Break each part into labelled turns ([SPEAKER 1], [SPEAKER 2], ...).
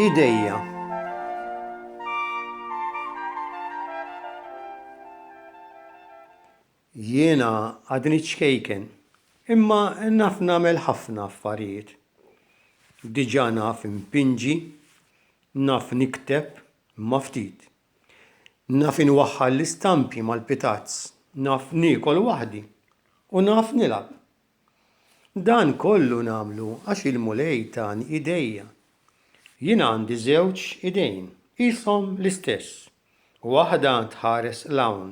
[SPEAKER 1] Idejja Jiena għadni ċkejken, imma naf nagħmel ħafna affarijiet. Diġà naf impinġi, naf nikteb, imma ftit, Naf inwaħħal l-istampi mal-pitazz, naf niekol waħdi u naf nilgħab. Dan kollu nagħmlu għax il-Mulej tani idejja. Jien għandi żewġ idejn, qishom l-istess, waħda tħares 'l hawn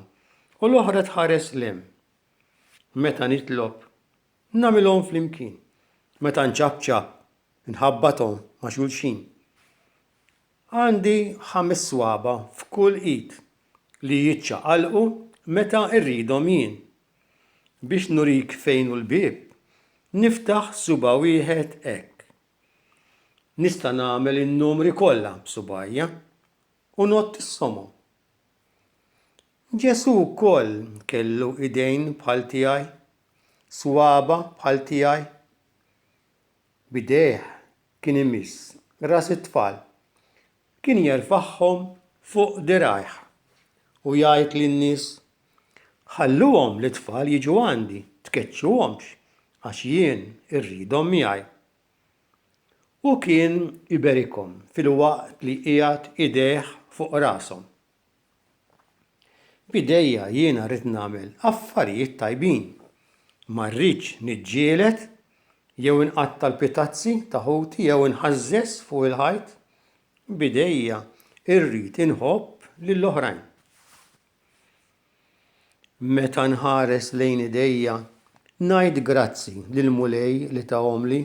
[SPEAKER 1] u l-oħra tħares 'l hemm. Meta nitlob, nagħmilhom flimkien, meta nċapċap, inħabbathom ma' xulxin. Għandi ħames swaba' f'kull id li jiċċaqalqu meta rridhom jien. Biex nurik fejn hu l-bieb, niftaħ suba' wieħed hekk. Nista' nagħmel in-numri kollha b'subgħajja u ngħodd issomhom. Ġesù wkoll kellu idejn bħal tiegħi, swaba' bħal tiegħi. B'idejh kien imiss ras it-tfal, kien jerfagħhom fuq dirgħajh u jgħid lin-nies, Ħalluhom lit-tfal jiġu għandi, tkeċċuhomx, għax jien irridhom miegħi. U kien iberikhom filwaqt li qiegħed idejh fuq rashom. B'idejja jiena rrid nagħmel affarijiet tajbin. Ma rridx niġġieled jew inqatta' l-pitazzi ta' ħuti jew inħażżeż fuq il-ħajt. B'idejja rrid inħobb lill-oħrajn. Meta nħares lejn idejja, ngħid grazzi lill-Mulej li tahomli.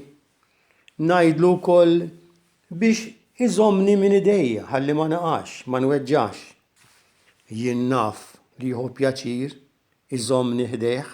[SPEAKER 1] Ngħidlu wkoll Biex iżommni minn idejja ħalli ma naqax, ma nweġġax. Jien naf li jieħu pjaċir iżommni ħdejh.